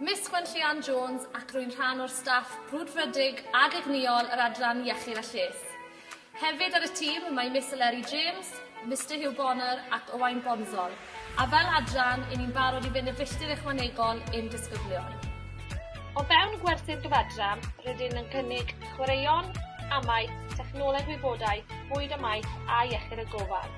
Miss Gwenllian Jones ac rwy'n rhan o'r staff brwdfrydig ag egnïol yr adran Iechyd a Lles. Hefyd ar y tîm mae Miss Eleri James, Mr Hugh Bonner ac Owain Bonzol, a fel adran, i ni'n barod i fynd y filltir ychwanegol i'n disgyblion. O fewn gwerthu'r gyfadran, rydyn yn cynnig chwaraeon, amau, technoleg wybodaeth, bwyd a maeth a iechyd a gofal.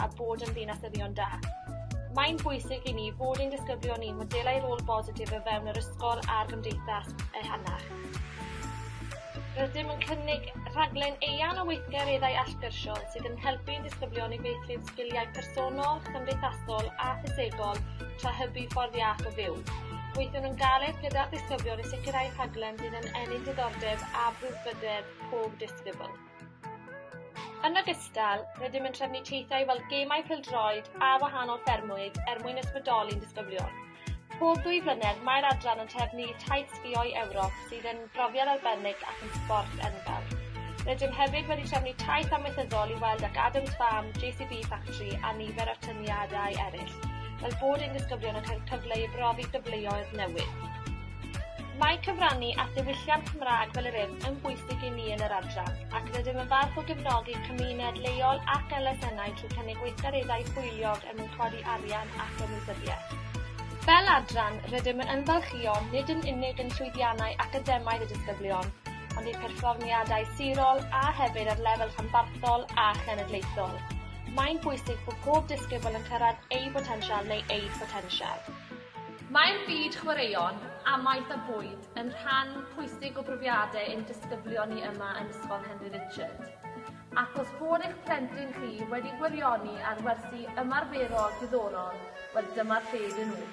a bod yn ddinasyddion da. Mae'n bwysig i ni fod ein disgyblion ni'n modelau rôl bositif o fewn yr ysgol a'r gymdeithas ehangach. Rydym yn cynnig rhaglen eang o weithgareddau allgyrsiol sydd yn helpu i'n disgyblion i feithrin sgiliau personol, cymdeithasol a ffisegol tra hybu ffordd iach o fyw. Gweithiwn yn galed gyda'r disgyblion i sicrhau rhaglen sydd yn ennill diddordeb a brwdfrydedd pob disgybl. Yn ogystal, rydym yn trefnu teithiau fel gemau pêl-droed a wahanol ffermwydd er mwyn ysbrydoli ein disgyblion. Pob dwy flynedd, mae'r adran yn trefnu taith sgïo i Ewrop sydd yn brofiad arbennig ac yn sbort enfawr. Rydym hefyd wedi trefnu taith amaethyddol i weld ac Adams Farm, JCB Factory a nifer o'r tyniadau eraill, fel bod ein disgyblion yn cael cyfle i brofi gyfleoedd newydd. Mae cyfrannu at ddiwylliant Cymraeg fel yr hyn yn bwysig i ni yn yr adran, ac rydym yn falch o gefnogi cymuned leol ac elusennau trwy cynnig gweithgareddau hwyliog er mwyn codi arian ac ymwybyddiaeth. Fel adran, rydym yn ymfalchïo nid yn unig yn llwyddiannau academaidd y disgyblion, ond eu perfformiadau sirol a hefyd ar lefel rhanbarthol a chenedlaethol. Mae'n bwysig bod pob disgybl yn cyrraedd eu potensial neu eu potensial. Mae'r byd chwaraeon, amaeth a bwyd yn rhan pwysig o brofiadau ein disgyblion ni yma yn Ysgol Henry Richard. Ac os bod eich plentyn chi wedi gwirioni ar wersi ymarferol diddorol, wel dyma'r lle iddyn nhw.